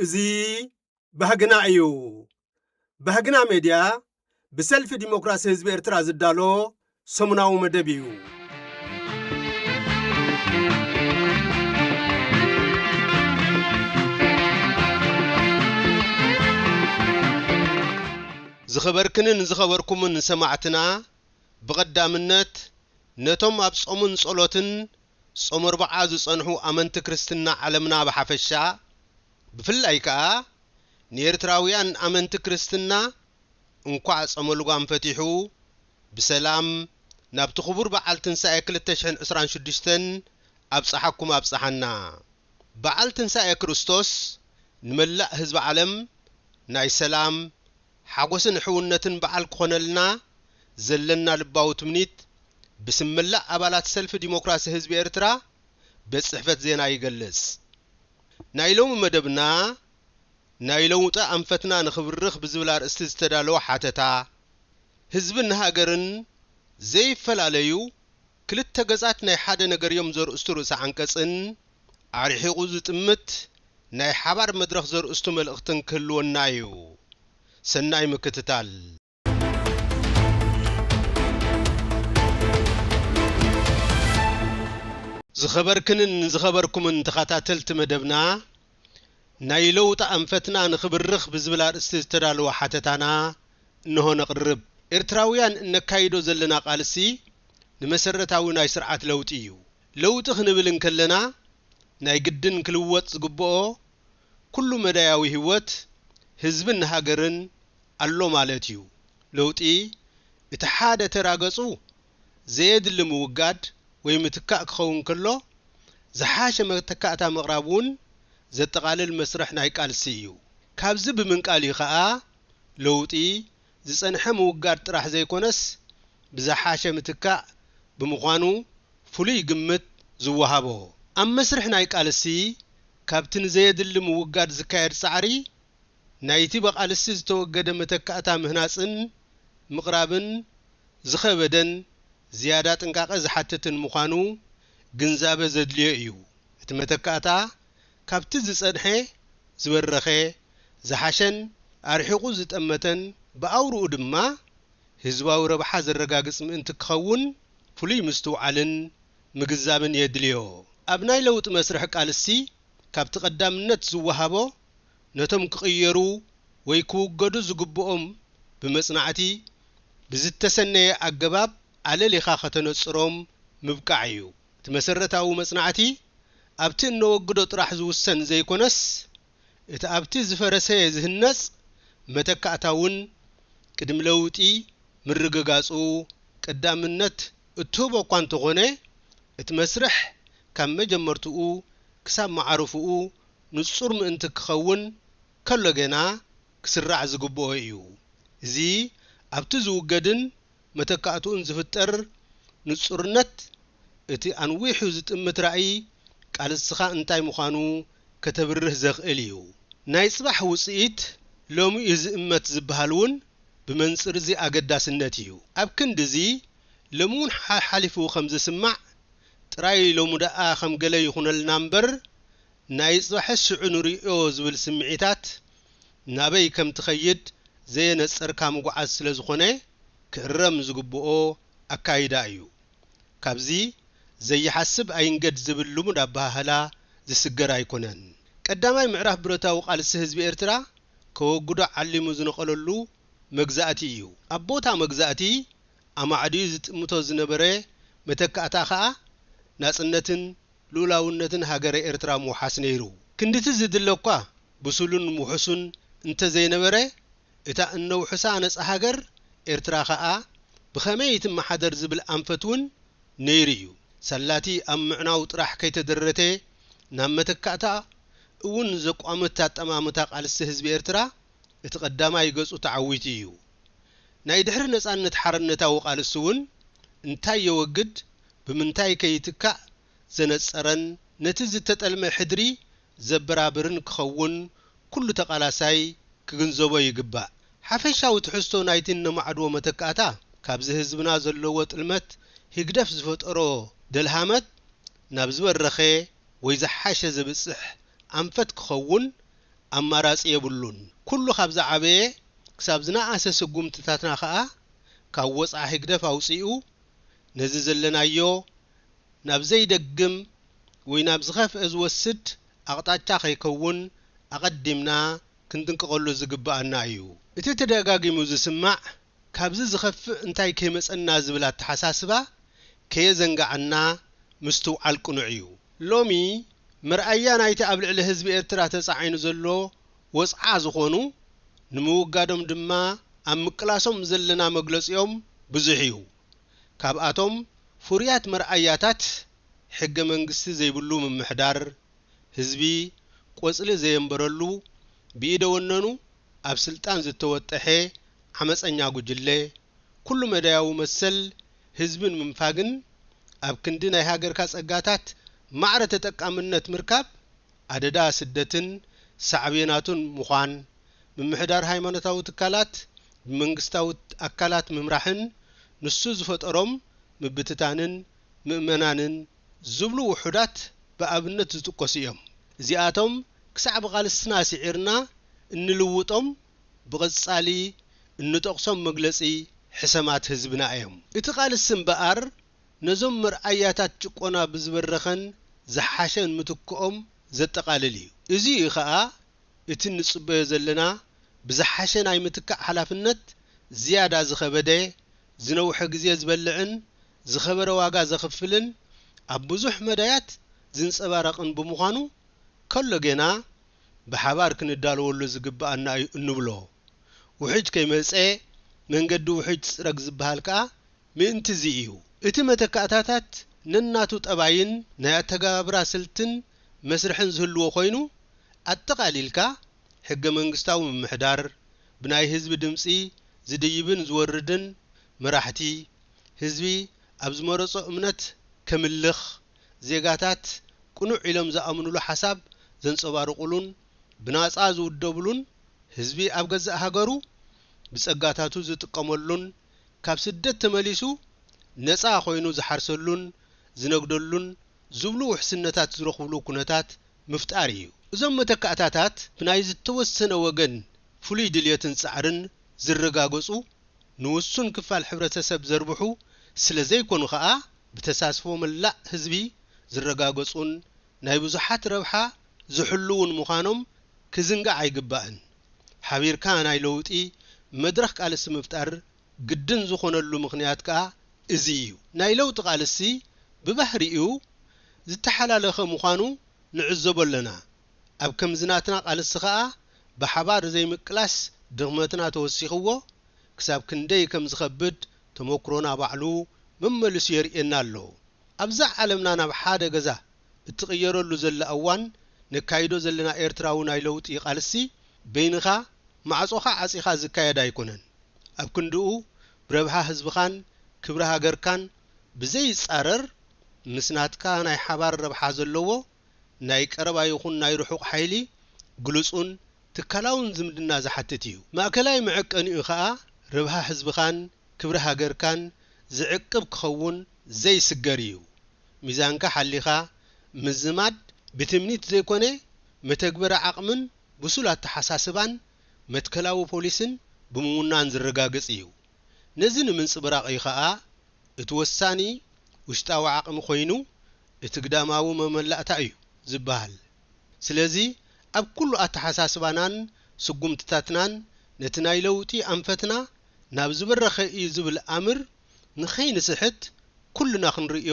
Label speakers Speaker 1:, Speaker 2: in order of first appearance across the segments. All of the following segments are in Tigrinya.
Speaker 1: እዚ ባህግና እዩ። ባህግና ሜድያ ብሰልፊ ዲሞክራሲ ህዝቢ ኤርትራ ዝዳሎ ሰሙናዊ መደብ እዩ። ዝኸበርክንን ዝኸበርኩምን ሰማዕትና ብቐዳምነት ነቶም ኣብ ጾምን ጸሎትን ጾመ ኣርብዓ ዝጸንሑ ኣመንቲ ክርስትና ዓለምና ብሓፈሻ ብፍላይ ከኣ ንኤርትራውያን ኣመንቲ ክርስትና እንኳዕ ጾመ ልጓም ፈቲሑ ብሰላም ናብቲ ክቡር በዓል ትንሳኤ ክልተ ሽሕን ዕስራን ሽዱሽተን ኣብጸሓኩም ኣብጸሓና። በዓል ትንሳኤ ክርስቶስ ንመላእ ህዝቢ ዓለም ናይ ሰላም፣ ሓጎስን ሕውነትን በዓል ክኾነልና ዘለና ልባዊ ትምኒት ብስም መላእ ኣባላት ሰልፊ ዲሞክራሲ ህዝቢ ኤርትራ ቤት ጽሕፈት ዜና ይገልጽ። ናይ ሎሚ መደብና ናይ ለውጢ ኣንፈትና ንክብርኽ ብዝብል ኣርእስቲ ዝተዳለወ ሓተታ፣ ህዝብን ሃገርን ዘይፈላለዩ ክልተ ገጻት ናይ ሓደ ነገር'ዮም ዘርእስቱ ርእሰ ዓንቀጽን ኣርሒቑ ዝጥምት ናይ ሓባር መድረኽ ዘርእስቱ መልእኽትን ክህልወና'ዩ። ሰናይ ምክትታል። ዝኸበርክንን ዝኸበርኩምን ተኸታተልቲ መደብና፣ ናይ ለውጢ ኣንፈትና ንኽብርኽ ብዝብል ኣርእስቲ ዝተዳለወ ሓተታና እነሆ ነቕርብ። ኤርትራውያን እነካይዶ ዘለና ቃልሲ ንመሰረታዊ ናይ ስርዓት ለውጢ እዩ። ለውጢ ክንብል እንከለና ናይ ግድን ክልወጥ ዝግበኦ ኩሉ መዳያዊ ህይወት ህዝብን ሃገርን ኣሎ ማለት እዩ። ለውጢ እቲ ሓደ ተራ ገጹ ዘየድሊ ምውጋድ ወይ ምትካእ ክኸውን ከሎ፣ ዝሓሸ መተካእታ ምቕራብ እውን ዘጠቓልል መስርሕ ናይ ቃልሲ እዩ። ካብዚ ብምንቃል እዩ ከኣ ለውጢ፣ ዝጸንሐ ምውጋድ ጥራሕ ዘይኮነስ ብዝሓሸ ምትካእ ብምዃኑ ፍሉይ ግምት ዝወሃቦ። ኣብ መስርሕ ናይ ቃልሲ፣ ካብቲ ንዘየድሊ ምውጋድ ዝካየድ ጻዕሪ፣ ናይቲ ብቓልሲ ዝተወገደ መተካእታ ምህናጽን ምቕራብን ዝኸበደን ዝያዳ ጥንቃቐ ዝሓትትን ምዃኑ ግንዛበ ዘድልዮ እዩ። እቲ መተካእታ ካብቲ ዝጸንሐ ዝበረኸ፣ ዝሓሸን ኣርሒቑ ዝጠመተን ብኣውርኡ ድማ ህዝባዊ ረብሓ ዘረጋግጽ ምእንቲ ክኸውን ፍሉይ ምስትውዓልን ምግንዛብን የድልዮ። ኣብ ናይ ለውጢ መስርሕ ቃልሲ ካብቲ ቀዳምነት ዝወሃቦ ነቶም ክቕየሩ ወይ ክውገዱ ዝግብኦም ብመጽናዕቲ ብዝተሰነየ ኣገባብ ኣለሊኻ ከተነጽሮም ምብቃዕ እዩ። እቲ መሰረታዊ መጽናዕቲ ኣብቲ እነወግዶ ጥራሕ ዝውሰን ዘይኮነስ እቲ ኣብቲ ዝፈረሰ ዝህነጽ መተካእታ እውን ቅድሚ ለውጢ ምርግጋጹ ቀዳምነት እትህቦ እኳ እንተኾነ እቲ መስርሕ ካብ መጀመርትኡ ክሳብ መዓርፎኡ ንጹር ምእንቲ ኪኸውን ከሎ ገና ኪስራዕ ዚግብኦ እዩ። እዚ ኣብቲ ዚውገድን መተካእትኡን ዚፍጠር ንጹርነት፣ እቲ ኣንዊሑ ዚጥምት ራእይ ቃልስኻ እንታይ ምዃኑ ከተብርህ ዘኽእል እዩ። ናይ ጽባሕ ውጽኢት ሎሚ እዩ ዚእመት ዚብሃል እውን ብመንጽር እዚ ኣገዳስነት እዩ። ኣብ ክንዲ እዚ ሎሚ እውን ሓሓሊፉ ከም ዚስማዕ ጥራይ ሎሚ ደኣ ከም ገለ ይኹነልና እምበር፣ ናይ ጽባሕስ ሽዑ ንርእዮ ዝብል ስምዒታት ናበይ ከም ትኸይድ ዘየነጸርካ ምጉዓዝ ስለ ዝኾነ ክእረም ዝግብኦ ኣካይዳ እዩ። ካብዚ ዘይሓስብ ኣይንገድ ዝብል ልሙድ ኣበሃህላ ዝስገር ኣይኮነን። ቀዳማይ ምዕራፍ ብረታዊ ቃልሲ ህዝቢ ኤርትራ ከወግዶ ዓሊሙ ዝነቐለሉ መግዛእቲ እዩ። ኣብ ቦታ መግዛእቲ ኣማዕድዩ ዝጥምቶ ዝነበረ መተካእታ ከኣ ናጽነትን ልኡላውነትን ሃገረ ኤርትራ ምውሓስ ነይሩ። ክንድቲ ዝድለ'ኳ ብሱሉን ውሑሱን እንተዘይነበረ፣ እታ እነውሕሳ ነጻ ሃገር ኤርትራ ከኣ ብኸመይ ትመሓደር ዝብል ኣንፈት'ውን ነይሩ'ዩ። ሳላ'ቲ ኣብ ምዕናው ጥራሕ ከይተደረተ፣ ናብ መተካእታ እውን ዘቋምት ኣጠማምታ ቃልሲ ህዝቢ ኤርትራ እቲ ቀዳማይ ገጹ ተዓዊቱ'ዩ። ናይ ድሕሪ ነጻነት ሓርነታዊ ቃልሲ'ውን እንታይ የወግድ ብምንታይ'ከ ይትካእ ዘነጸረን ነቲ ዝተጠልመ ሕድሪ ዘበራብርን ክኸውን ኩሉ ተቓላሳይ ክግንዘቦ ይግባእ። ሓፈሻዊ ትሕዝቶ ናይቲ እነማዕድዎ መተካእታ ካብዚ ህዝብና ዘለዎ ጥልመት ህግደፍ ዝፈጠሮ ደልሃመት ናብ ዝበረኸ ወይ ዝሓሸ ዘብጽሕ ኣንፈት ክኸውን ኣማራጺ የብሉን። ኩሉ ካብ ዝዓበየ ክሳብ ዝነኣሰ ስጉምትታትና ከኣ ካብ ወጽዓ ህግደፍ ኣውጺኡ ነዚ ዘለናዮ ናብ ዘይደግም ወይ ናብ ዝኸፍኤ ዝወስድ ኣቕጣጫ ከይከውን ኣቐዲምና ክንጥንቀቐሉ ዝግበኣና እዩ። እቲ ተደጋጊሙ ዝስማዕ ካብዚ ዝኸፍእ እንታይ ከይመጸና ዝብል ኣተሓሳስባ ከየዘንጋዓና ምስትውዓል ቅኑዕ እዩ። ሎሚ መርኣያ ናይቲ ኣብ ልዕሊ ህዝቢ ኤርትራ ተጻዒኑ ዘሎ ወጽዓ ዝኾኑ ንምውጋዶም ድማ ኣብ ምቅላሶም ዘለና መግለጺኦም ብዙሕ እዩ። ካብኣቶም ፍሩያት መርኣያታት ሕገ መንግስቲ ዘይብሉ ምምሕዳር፣ ህዝቢ ቆጽሊ ዘየንበረሉ ብኢደ ወነኑ ኣብ ስልጣን ዝተወጠሐ ዓመጸኛ ጉጅለ፣ ኩሉ መዳያዊ መሰል ህዝቢ ንምንፋግን ኣብ ክንዲ ናይ ሃገርካ ጸጋታት ማዕረ ተጠቃምነት ምርካብ፣ ኣደዳ ስደትን ሳዕቤናቱን ምዃን፣ ምምሕዳር ሃይማኖታዊ ትካላት ብመንግስታዊ ኣካላት ምምራሕን ንሱ ዝፈጠሮም ምብትታንን ምእመናንን፣ ዝብሉ ውሑዳት ብኣብነት ዝጥቀሱ እዮም። እዚኣቶም ክሳዕ ብቓልስና ስዒርና እንልውጦም ብቐጻሊ እንጠቕሶም መግለጺ ሕሰማት ህዝብና እዮም። እቲ ቓልሲ እምበኣር ነዞም መርኣያታት ጭቆና ብዝበረኸን ዝሓሸን ምትክኦም ዘጠቓልል እዩ። እዚ እዩ ከኣ እቲ እንጽበዮ ዘለና ብዝሓሸ ናይ ምትካእ ሓላፍነት ዝያዳ ዝኸበደ፣ ዝነውሐ ግዜ ዝበልዕን ዝኸበረ ዋጋ ዘኽፍልን ኣብ ብዙሕ መዳያት ዝንጸባረቕን ብምዃኑ ከሎ ጌና ብሓባር ክንዳለወሉ ዝግብኣና እዩ እንብሎ ውሕጅ ከይመጸ መንገዲ ውሕጅ ትጽረግ ዝበሃል ከኣ ምእንቲ'ዚ እዩ። እቲ መተካእታታት ነናቱ ጠባይን ናይ ኣተገባብራ ስልትን መስርሕን ዝህልዎ ኮይኑ፣ ኣጠቓሊልካ ሕገ-መንግስታዊ ምምሕዳር፣ ብናይ ህዝቢ ድምጺ ዝድይብን ዝወርድን መራሕቲ፣ ህዝቢ ኣብ ዝመረጾ እምነት ከምልኽ፣ ዜጋታት ቅኑዕ ኢሎም ዝኣምኑሉ ሓሳብ ዘንጸባርቑሉን ብናጻ ዝውደብሉን፣ ህዝቢ ኣብ ገዛእ ሃገሩ ብጸጋታቱ ዝጥቀመሉን ካብ ስደት ተመሊሱ ነጻ ኮይኑ ዝሓርሰሉን ዝነግደሉን ዝብሉ ውሕስነታት ዝረኽብሉ ኩነታት ምፍጣር ኢዩ። እዞም መተካእታታት ብናይ ዝተወሰነ ወገን ፍሉይ ድልየትን ጻዕርን ዝረጋገጹ ንውሱን ክፋል ሕብረተሰብ ዘርብሑ ስለ ዘይኮኑ ከኣ ብተሳትፎ መላእ ህዝቢ ዝረጋገጹን ናይ ብዙሓት ረብሓ ዝሕልዉን ምዃኖም ክዝንጋዕ ኣይግባእን። ሓቢርካ ናይ ለውጢ መድረኽ ቃልሲ ምፍጣር ግድን ዝኾነሉ ምኽንያት ከኣ እዚ እዩ። ናይ ለውጢ ቃልሲ ብባህሪኡ ዝተሓላለኸ ምዃኑ ንዕዘቦ ኣለና። ኣብ ከምዚ ናትና ቃልሲ ከኣ ብሓባር ዘይምቅላስ ድኽመትና ተወሲኽዎ ክሳብ ክንደይ ከም ዝኸብድ ተመኩሮና ባዕሉ መመሊሱ የርእየና ኣሎ። ኣብዛ ዓለምና ናብ ሓደ ገዛ እትቕየረሉ ዘላ እዋን ነካይዶ ዘለና ኤርትራዊ ናይ ለውጢ ቃልሲ በይንኻ ማዕጾኻ ዓጺኻ ዝካየድ ኣይኮነን። ኣብ ክንድኡ ብረብሓ ህዝብኻን ክብሪ ሃገርካን ብዘይጻረር ምስ ናትካ ናይ ሓባር ረብሓ ዘለዎ ናይ ቀረባ ይኹን ናይ ርሑቕ ሓይሊ ግሉጹን ትካላውን ዝምድና ዝሓትት ኢዩ። ማእከላይ መዐቀኒኡ ከኣ ርብሃ ህዝብኻን ክብሪ ሃገርካን ዝዕቅብ ክኸውን ዘይስገር ኢዩ። ሚዛንካ ሓሊኻ ምዝማድ ብትምኒት ዘይኮነ መተግበሪ ዓቕምን ብሱል ኣተሓሳስባን መትከላዊ ፖሊስን ብምውናን ዝረጋገጽ ኢዩ። ነዚ ንምንጽብራቕ ኢዩ ከኣ እቲ ወሳኒ ውሽጣዊ ዓቕሚ ኮይኑ እቲ ግዳማዊ መመላእታ እዩ ዝበሃል። ስለዚ ኣብ ኩሉ ኣተሓሳስባናን ስጉምትታትናን ነቲ ናይ ለውጢ ኣንፈትና ናብ ዝበረኸ እዩ ዝብል ኣምር ንኸይንስሕት ኩልና ክንርእዮ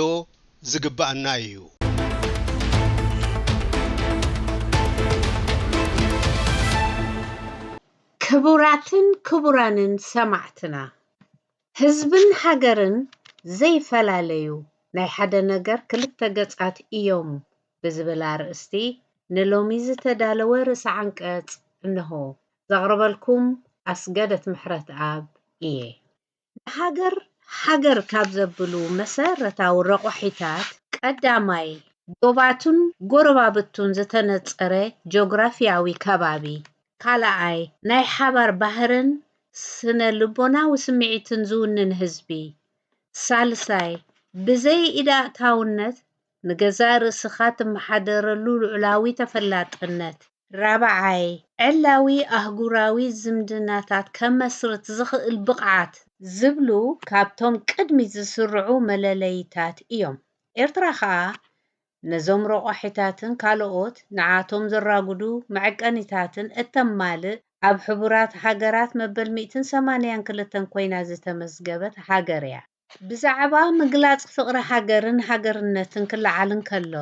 Speaker 1: ዝግበኣና እዩ። ክቡራትን
Speaker 2: ክቡራንን ሰማዕትና! ህዝብን ሃገርን ዘይፈላለዩ ናይ ሓደ ነገር ክልተ ገጻት ኢዮም ብዝብል ኣርእስቲ ንሎሚ ዝተዳለወ ርእሰ ዓንቀጽ እነሆ። ዘቕርበልኩም ኣስገደት ምሕረትኣብ ኢየ። ንሃገር ሃገር ካብ ዘብሉ መሰረታዊ ረቋሒታት ቀዳማይ፣ ዶባቱን ጎረባብቱን ዝተነጸረ ጆግራፊያዊ ከባቢ፣ ካልኣይ፣ ናይ ሓባር ባህርን ስነ ልቦናዊ ስምዒትን ዝውንን ህዝቢ። ሳልሳይ፣ ብዘይ ኢድ ኣእታውነት ንገዛእ ርእስኻ ትመሓደረሉ ልዑላዊ ተፈላጥነት። ራብዓይ፣ ዕላዊ ኣህጉራዊ ዝምድናታት ከመስርት ዝኽእል ብቕዓት። ዝብሉ ካብቶም ቅድሚት ዝስርዑ መለለዪታት እዮም። ኤርትራ ከኣ ነዞም ረቋሒታትን ካልኦት ንዓቶም ዘራጉዱ መዐቀኒታትን እተማልእ ኣብ ሕቡራት ሃገራት መበል ሚእትን ሰማንያን ክልተን ኮይና ዝተመዝገበት ሃገር እያ። ብዛዕባ ምግላጽ ፍቕሪ ሃገርን ሃገርነትን ክለዓል እንከሎ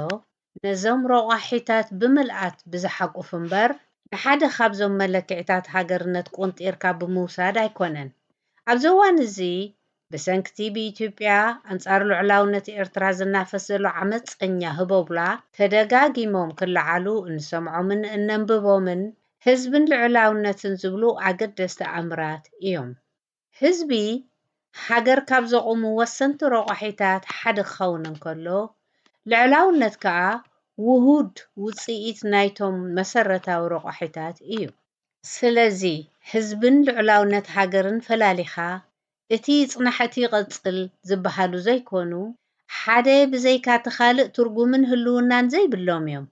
Speaker 2: ነዞም ረቋሒታት ብምልኣት ብዝሓቁፍ እምበር ንሓደ ካብዞም መለክዒታት ሃገርነት ቆንጢርካ ብምውሳድ ኣይኮነን። ኣብዚ እዋን እዚ ብሰንኪ'ቲ ብኢትዮጵያ ኣንጻር ልዑላውነት ኤርትራ ዝናፈስ ዘሎ ዓመጸኛ ህቦብላ ተደጋጊሞም ክለዓሉ እንሰምዖምን እነንብቦምን ህዝብን ልዑላውነትን ዝብሉ ኣገደስቲ ኣምራት እዮም። ህዝቢ ሃገር ካብ ዘቑሙ ወሰንቲ ረቋሒታት ሓደ ክኸውን እንከሎ፣ ልዑላውነት ከኣ ውሁድ ውጽኢት ናይቶም መሰረታዊ ረቋሒታት እዩ። ስለዚ ህዝብን ልዑላውነት ሃገርን ፈላሊኻ እቲ ጽናሕ'ቲ ይቐጽል ዝበሃሉ ዘይኮኑ፣ ሓደ ብዘይካ'ቲ ካልእ ትርጉምን ህልውናን ዘይብሎም'ዮም።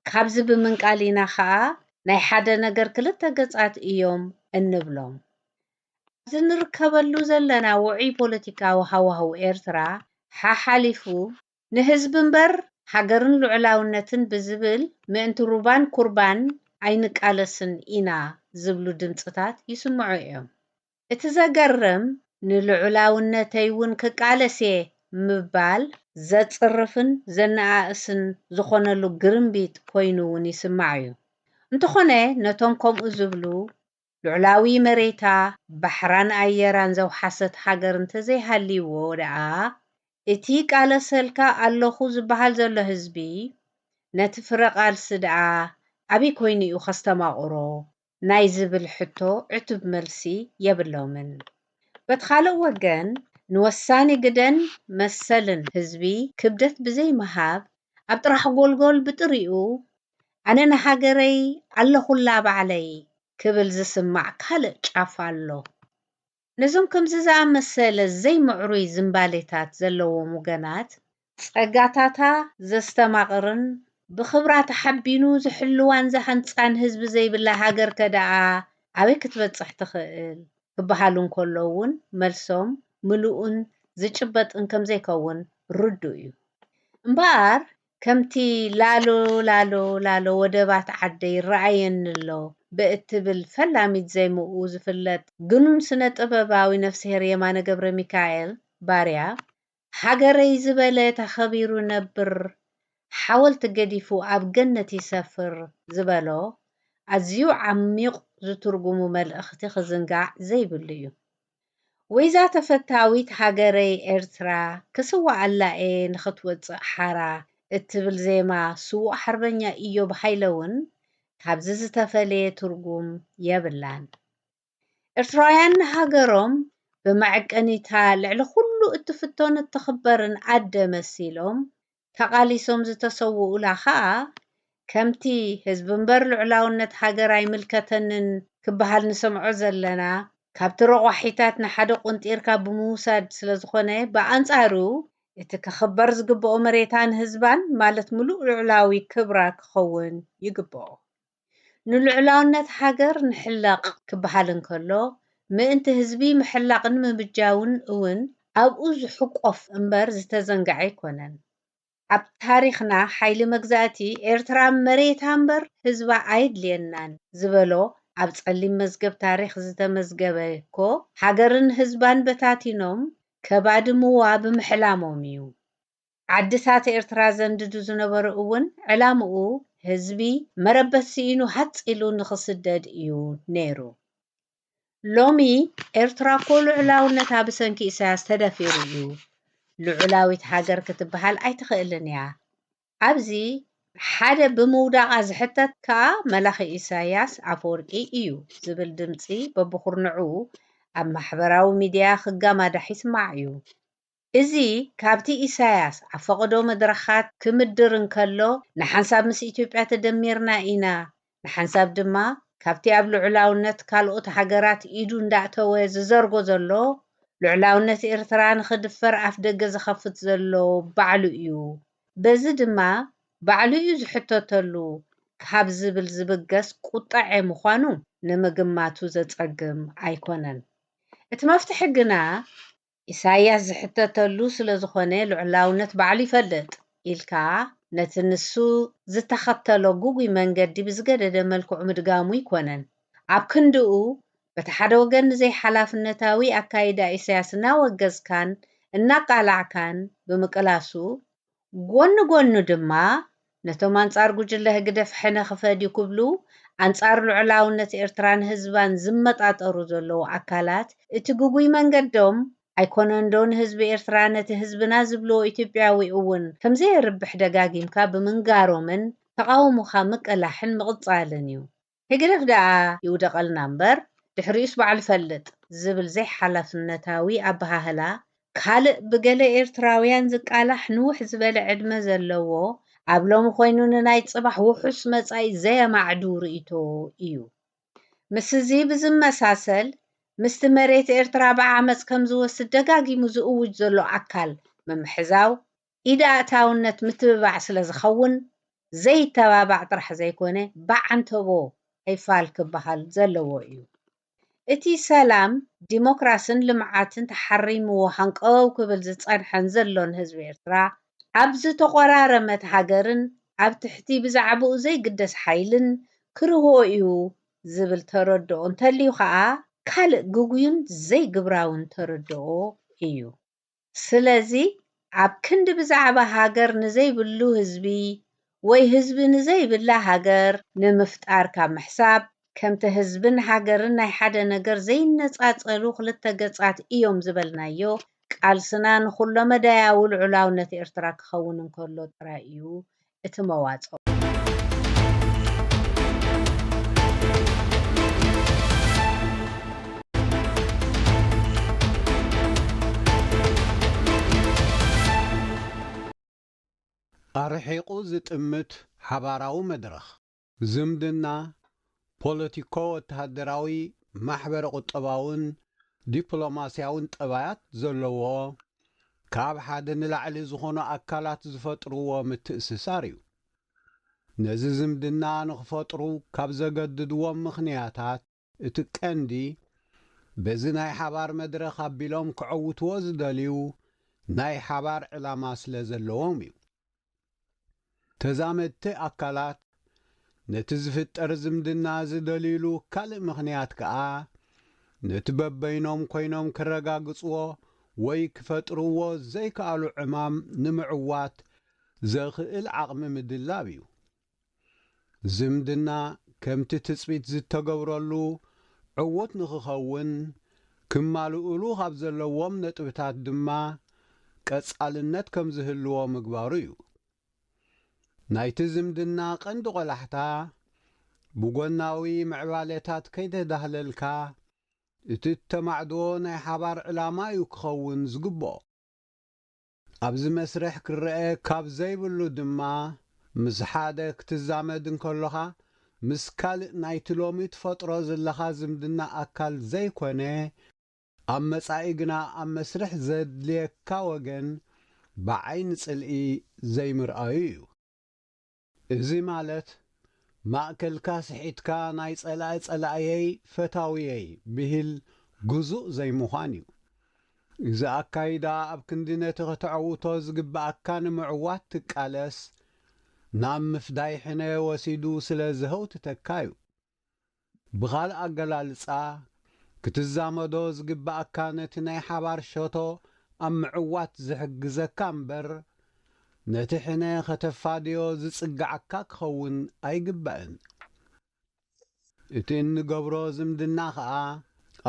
Speaker 2: ካብዚ ብምንቃል ኢና ከኣ ናይ ሓደ ነገር ክልተ ገጻት እዮም እንብሎም። ኣብዚ ንርከበሉ ዘለና ውዑይ ፖለቲካዊ ሃዋህው ኤርትራ ሓሓሊፉ፣ ንህዝቢ'ምበር ሃገርን ልዑላውነትን ብዝብል ምእንቲ ሩባን ኩርባን ኣይንቃለስን ኢና ዝብሉ ድምጽታት ይስምዑ'ዮም። እቲ ዘገርም ንልዑላውነተይ እውን ክቃለስ እየ ምባል ዘጽርፍን ዘነኣእስን ዝኾነሉ ግርምቢጥ ኮይኑ እውን ይስማዕ እዩ። እንተኾነ ነቶም ከምኡ ዝብሉ ልዑላዊ መሬታ፣ ባሕራን ኣየራን ዘውሓሰት ሃገር እንተዘይሃልይዎ ደኣ እቲ ይቃለሰልካ ኣለኹ ዝበሃል ዘሎ ህዝቢ ነቲ ፍረ ቃልሲ ደኣ ኣበይ ኮይኑ እዩ ከስተማቕሮ ናይ ዝብል ሕቶ ዕቱብ መልሲ የብሎምን። በቲ ካልእ ወገን ንወሳኒ ግደን መሰልን ህዝቢ ክብደት ብዘይምሃብ ኣብ ጥራሕ ጎልጎል ብጥሪኡ ኣነ ንሃገረይ ኣለኹላ ባዕለይ ክብል ዝስማዕ ካልእ ጫፍ ኣሎ። ነዞም ከምዚ ዝኣመሰለ ዘይምዕሩይ ዝምባሌታት ዘለዎም ውገናት፣ ጸጋታታ ዘስተማቕርን ብኽብራ ተሓቢኑ ዝሕልዋን ዝሃንጻን ህዝቢ ዘይብላ ሃገርከ ደኣ ኣበይ ክትበጽሕ ትኽእል? ክበሃሉ እንከሎ'ውን መልሶም ምሉእን ዝጭበጥን ከምዘይከውን ርዱእ'ዩ። እምበኣር ከምቲ ላሎ ላሎ ላሎ ወደባት ዓደይ ይረኣየኒ'ሎ ብእትብል ፈላሚት ዜምኡ ዝፍለጥ ግኑን ስነ-ጥበባዊ ነፍስሄር የማነ ገብረሚካኤል፣ ባርያ፣ ሃገረይ ዝበለ ተኸቢሩ ይነብር፣ ሓወልቲ ገዲፉ ኣብ ገነት ይሰፍር ዝበሎ ኣዝዩ ዓሚቝ ዝትርጉሙ መልእኽቲ ክዝንጋዕ ዘይብሉ'ዩ። ወይዛ ተፈታዊት ሃገረይ ኤርትራ ክስዋኣላ እየ ንኽትወጽእ ሓራ እትብል ዜማ ስዉእ ሓርበኛ ኢዮብ ሃይለ ውን ካብዚ ዝተፈልየ ትርጉም የብላን። ኤርትራውያን ንሃገሮም ብመዐቀኒ'ታ ልዕሊ ኩሉ እትፍቶን እትኽበርን ኣደ መሲሎም ተቓሊሶም ዝተሰውኡላ ከኣ ከምቲ ህዝቢ እምበር ልዑላውነት ሃገር ኣይምልከተንን ክበሃል ንሰምዖ ዘለና ካብቲ ረቋሒታት ንሓደ ቁንጢርካ ብምውሳድ ስለዝኾነ ብኣንጻሩ እቲ ክኽበር ዝግበኦ መሬታን ህዝባን ማለት ምሉእ ልዑላዊ ክብራ ክኸውን ይግበኦ። ንልዑላውነት ሃገር ንሕለቕ ክበሃል እንከሎ፣ ምእንቲ ህዝቢ ምሕላቕን ምብጃውን እውን ኣብኡ ዝሕቆፍ እምበር ዝተዘንግዐ ኣይኮነን። ኣብ ታሪኽና ሓይሊ መግዛእቲ፣ ኤርትራ መሬታ እምበር ህዝባ ኣየድልየናን ዝበሎ ኣብ ጸሊም መዝገብ ታሪኽ ዝተመዝገበ'ኮ፣ ሃገርን ህዝባን በታቲኖም ከባድምዋ ብምሕላሞም እዩ። ዓድታት ኤርትራ ዘንድዱ ዝነበሩ እውን ዕላምኡ ህዝቢ መረበት ስኢኑ ሃጽ ኢሉ ንኽስደድ እዩ ነይሩ። ሎሚ ኤርትራ እኮ ልዑላውነታ ብሰንኪ ኢሳያስ ተደፊሩ እዩ። ልዑላዊት ሃገር ክትበሃል ኣይትኽእልን እያ። ኣብዚ ሓደ ብምውዳቓ ዝሕተት ከኣ መላኺ ኢሳያስ ኣፈወርቂ እዩ ዝብል ድምጺ በብኹርንዑ ኣብ ማሕበራዊ ሚድያ ክጋማዳሕ ይስማዕ እዩ። እዚ ካብቲ ኢሳያስ ኣብ ፈቐዶ መድረኻት ክምድር እንከሎ ንሓንሳብ ምስ ኢትዮጵያ ተደሚርና ኢና ንሓንሳብ ድማ ካብቲ ኣብ ልዑላውነት ካልኦት ሃገራት ኢዱ እንዳእተወ ዝዘርጎ ዘሎ ልዑላውነት ኤርትራ ንኽድፈር ኣፍደገ ዝኸፍት ዘሎ ባዕሉ'ዩ በዚ ድማ ባዕሉ'ዩ ዝሕተተሉ ካብ ዝብል ዝብገስ ቁጠዐ ምዃኑ ንምግማቱ ዘጸግም ኣይኮነን እቲ መፍትሒ ግና ኢሳይያስ ዝሕተተሉ ስለ ዝኾነ ልዑላውነት ባዕሉ ይፈልጥ ኢልካ ነቲ ንሱ ዝተኸተሎ ግጉይ መንገዲ ብዝገደደ መልክዑ ምድጋሙ ኣይኮነን። ኣብ ክንድኡ በቲ ሓደ ወገን ንዘይሓላፍነታዊ ኣካይዳ ኢሳይያስ እናወገዝካን እናቃላዕካን ብምቅላሱ፣ ጎኒ ጎኑ ድማ ነቶም ኣንጻር ጉጅለ ህግደፍ ሕነ ክፈድዩ ክብሉ ኣንጻር ልዑላውነት ኤርትራን ህዝባን ዝመጣጠሩ ዘለዉ ኣካላት እቲ ግጉይ መንገዶም ኣይኮነንዶ ንህዝቢ ኤርትራ ነቲ ህዝብና ዝብልዎ ኢትዮጵያዊ እውን ከምዘየርብሕ ደጋጊምካ ብምንጋሮምን ተቓውሞኻ ምቅላሕን ምቕጻልን እዩ። ህግደፍ ደኣ ይውደቐልና እምበር ድሕሪኡስ ባዕሉ ይፈልጥ ዝብል ዘይሓላፍነታዊ ኣበሃህላ ካልእ ብገለ ኤርትራውያን ዝቃላሕ ንውሕ ዝበለ ዕድመ ዘለዎ ኣብ ሎሚ ኮይኑ ንናይ ጽባሕ ውሑስ መጻኢ ዘየማዕዱ ርእይቶ ኢዩ። ምስዚ ብዝመሳሰል ምስቲ መሬት ኤርትራ ብዓመጽ ከምዝወስድ ደጋጊሙ ዝእውጅ ዘሎ ኣካል ምምሕዛው፣ ኢድ ኣእታውነት ምትብባዕ ስለ ዝኸውን ዘይተባባዕ ጥራሕ ዘይኮነ ብዓንተቦ ኣይፋል ክበሃል ዘለዎ እዩ። እቲ ሰላም፣ ዲሞክራስን ልምዓትን ተሓሪምዎ ሃንቀው ክብል ዝጸንሐን ዘሎን ህዝቢ ኤርትራ፣ ኣብ ዝተቖራረመት ሃገርን ኣብ ትሕቲ ብዛዕባኡ ዘይግደስ ሓይልን ክርሆ እዩ ዝብል ተረድኦ እንተልዩ ከኣ ካልእ ግጉይን ዘይግብራውን ተረድኦ እዩ። ስለዚ ኣብ ክንዲ ብዛዕባ ሃገር ንዘይብሉ ህዝቢ ወይ ህዝቢ ንዘይብላ ሃገር ንምፍጣር ካብ ምሕሳብ፣ ከምቲ ህዝብን ሃገርን ናይ ሓደ ነገር ዘይነጻጸሉ ክልተ ገጻት እዮም ዝበልናዮ፣ ቃልስና ንኩሎ-መዳያዊ ልዑላውነት ኤርትራ ክኸውን እንከሎ ጥራይ እዩ እቲ መዋጽኦ።
Speaker 3: ኣርሒቑ ዝጥምት ሓባራዊ መድረኽ። ዝምድና፣ ፖለቲኮ-ወተሃደራዊ፣ ማሕበረ-ቁጠባውን ዲፕሎማስያውን ጠባያት ዘለዎ፣ ካብ ሓደ ንላዕሊ ዝኾኑ ኣካላት ዝፈጥርዎ ምትእስሳር እዩ። ነዚ ዝምድና ንኽፈጥሩ ካብ ዘገድድዎም ምኽንያታት፣ እቲ ቀንዲ በዚ ናይ ሓባር መድረኽ ኣቢሎም ከዐውትዎ ዝደልዩ ናይ ሓባር ዕላማ ስለ ዘለዎም እዩ። ተዛመድቲ ኣካላት ነቲ ዝፍጠር ዝምድና ዝደልዩሉ ካልእ ምኽንያት ከኣ ነቲ በበይኖም ኮይኖም ክረጋግጽዎ ወይ ክፈጥርዎ ዘይከኣሉ ዕማም ንምዕዋት ዘኽእል ዓቕሚ ምድላብ እዩ። ዝምድና ከምቲ ትጽቢት ዝተገብረሉ ዕዉት ንክኸውን ክማልኡሉ ካብ ዘለዎም ነጥብታት ድማ ቀጻልነት ከም ዝህልዎ ምግባሩ እዩ። ናይቲ ዝምድና ቀንዲ ቆላሕታ ብጎናዊ ምዕባሌታት ከይተዳህለልካ እቲ እተማዕድዎ ናይ ሓባር ዕላማ እዩ ክኸውን ዝግብኦ። ኣብዚ መስርሕ ክረኣ ካብ ዘይብሉ ድማ ምስ ሓደ ክትዛመድ እንከሎኻ ምስ ካልእ ናይቲ ሎሚ ትፈጥሮ ዝለኻ ዝምድና ኣካል ዘይኮነ ኣብ መጻኢ ግና ኣብ መስርሕ ዘድልየካ ወገን ብዓይኒ ጽልኢ ዘይምርኣዩ እዩ። እዚ ማለት ማእከልካ ስሒትካ ናይ ጸላኢ ጸላእየይ ፈታውየይ ብሂል ግዙእ ዘይምዃን እዩ። እዚ ኣካይዳ ኣብ ክንዲ ነቲ ከተዐውቶ ዝግብኣካ ንምዕዋት ትቃለስ ናብ ምፍዳይ ሕነ ወሲዱ ስለ ዘህውትተካ እዩ። ብኻልእ ኣገላልጻ፣ ክትዛመዶ ዝግበኣካ ነቲ ናይ ሓባር ሸቶ ኣብ ምዕዋት ዝሕግዘካ እምበር፣ ነቲ ሕነ ከተፋድዮ ዝጽግዓካ ክኸውን ኣይግባእን። እቲ እንገብሮ ዝምድና ከኣ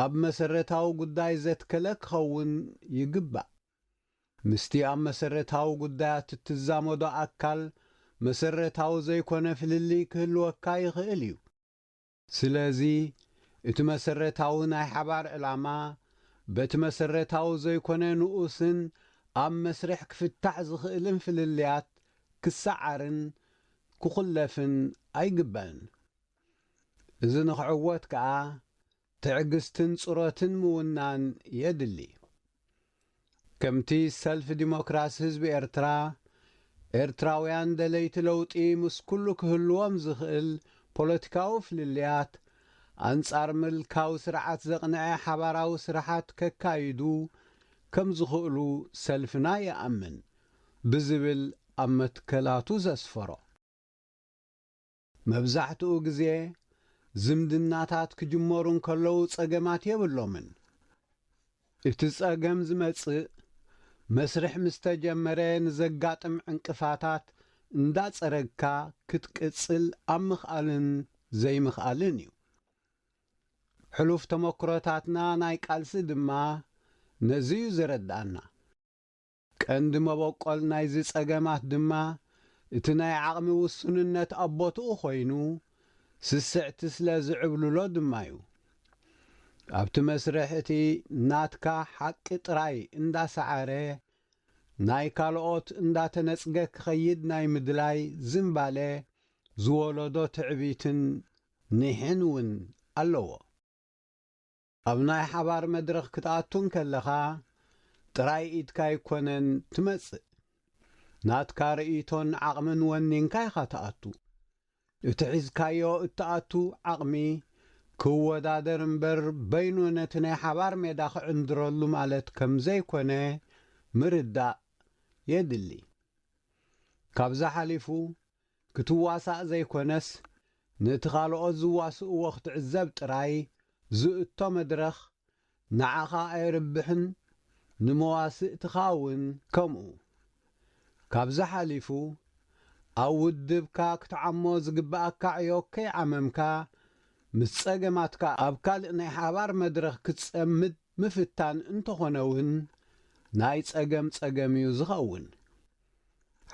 Speaker 3: ኣብ መሰረታዊ ጉዳይ ዘትከለ ክኸውን ይግባእ። ምስቲ ኣብ መሰረታዊ ጉዳያት እትዛመዶ ኣካል መሰረታዊ ዘይኮነ ፍልልይ ክህልወካ ይኽእል እዩ። ስለዚ እቲ መሰረታዊ ናይ ሓባር ዕላማ በቲ መሰረታዊ ዘይኮነ ንኡስን ኣብ መስርሕ ክፍታሕ ዝኽእልን ፍልልያት ክሰዓርን ክኹለፍን ኣይግበእን። እዚ ንክዕወት ከኣ ትዕግስትን ጽሮትን ምውናን የድሊ። ከምቲ ሰልፊ ዲሞክራሲ ህዝቢ ኤርትራ፣ ኤርትራውያን ደለይቲ ለውጢ ምስ ኩሉ ክህልዎም ዝኽእል ፖለቲካዊ ፍልልያት፣ ኣንጻር ምልካዊ ስርዓት ዘቕነዐ ሓባራዊ ስራሓት ከካይዱ ከም ዝኽእሉ ሰልፍና ይኣምን ብዝብል ኣብ መትከላቱ ዘስፈሮ። መብዛሕትኡ ግዜ ዝምድናታት ክጅመሩ እንከለዉ ጸገማት የብሎምን። እቲ ጸገም ዝመጽእ መስርሕ ምስ ተጀመረ ንዘጋጥም ዕንቅፋታት እንዳጸረግካ ክትቅጽል ኣብ ምኽኣልን ዘይምኽኣልን እዩ። ሕሉፍ ተመኩሮታትና ናይ ቃልሲ ድማ ነዚ እዩ ዘረድኣና። ቀንዲ መበቆል ናይዚ ጸገማት ድማ እቲ ናይ ዓቕሚ ውሱንነት ኣብ ቦትኡ ኮይኑ ስስዕቲ ስለ ዝዕብልሎ ድማ'ዩ። ኣብቲ መስርሕ እቲ ናትካ ሓቂ ጥራይ እንዳሰዓረ ናይ ካልኦት እንዳተነጽገ ክኸይድ ናይ ምድላይ ዝንባለ ዝወለዶ ትዕቢትን ኒሕን ውን ኣለዎ። ኣብ ናይ ሓባር መድረኽ ክትኣቱ እንከለኻ ጥራይ ኢድካ ኣይኮነን ትመጽእ። ናትካ ርእይቶን ዓቕምን ወኒንካ ኢኻ ትኣቱ። እቲ ሒዝካዮ እትኣቱ ዓቕሚ ክወዳደር እምበር በይኑ ነቲ ናይ ሓባር ሜዳ ክዕንድረሉ ማለት ከም ዘይኮነ ምርዳእ የድሊ። ካብዚ ሓሊፉ ክትዋሳእ ዘይኮነስ ንእቲ ካልኦት ዝዋስእዎ ክትዕዘብ ጥራይ ዝእቶ መድረኽ ንዓኻ ኣየርብሕን ንመዋስእትኻ ውን ከምኡ። ካብዚ ሓሊፉ ኣብ ውድብካ ክትዓሞ ዝግበኣካ ዕዮ ከይዓመምካ ምስ ጸገማትካ ኣብ ካልእ ናይ ሓባር መድረኽ ክትጸምድ ምፍታን እንተኾነ ውን ናይ ጸገም ጸገም'ዩ ዝኸውን።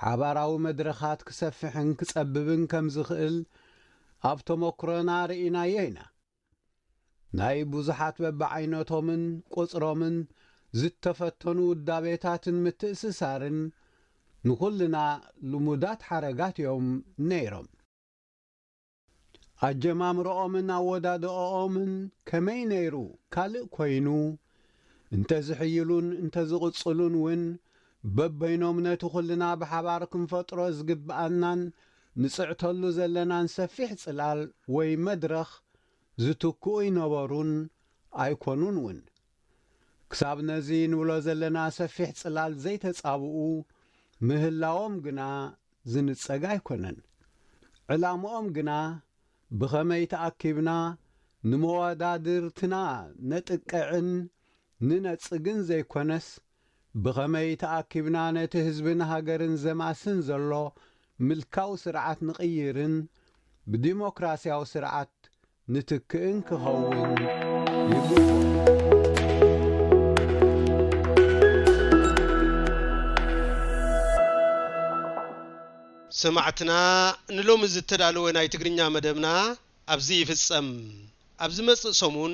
Speaker 3: ሓባራዊ መድረኻት ክሰፍሕን ክጸብብን ከም ዝኽእል ኣብ ተሞኩሮና ርኢናዮ ኢና። ናይ ብዙሓት በብዓይነቶምን ቁጽሮምን ዝተፈተኑ ውዳቤታትን ምትእስሳርን ንኹልና ልሙዳት ሓረጋት እዮም ነይሮም። ኣጀማምርኦምን ኣወዳድኣኦምን ከመይ ነይሩ ካልእ ኮይኑ፣ እንተዝሕይሉን እንተዝቕጽሉን ውን በበይኖም ነቲ ኩልና ብሓባር ክንፈጥሮ ዝግብኣናን ንጽዕተሉ ዘለናን ሰፊሕ ጽላል ወይ መድረኽ ዝትክኡ ኣይነበሩን ኣይኮኑን ውን። ክሳብ ነዚ ንብሎ ዘለና ሰፊሕ ጽላል ዘይተጻብኡ ምህላዎም ግና ዝንጸግ ኣይኮነን። ዕላምኦም ግና ብኸመይ ተኣኪብና ንመዋዳድርትና ነጥቅዕን ንነጽግን ዘይኮነስ ብኸመይ ተኣኪብና ነቲ ህዝብን ሃገርን ዘማስን ዘሎ ምልካዊ ስርዓት ንቕይርን ብዲሞክራሲያዊ ስርዓት ንትክእን ክኸውን ይግብኦ።
Speaker 1: ሰማዕትና ንሎሚ ዝተዳለወ ናይ ትግርኛ መደብና ኣብዚ ይፍጸም። ኣብ ዝመጽእ ሰሙን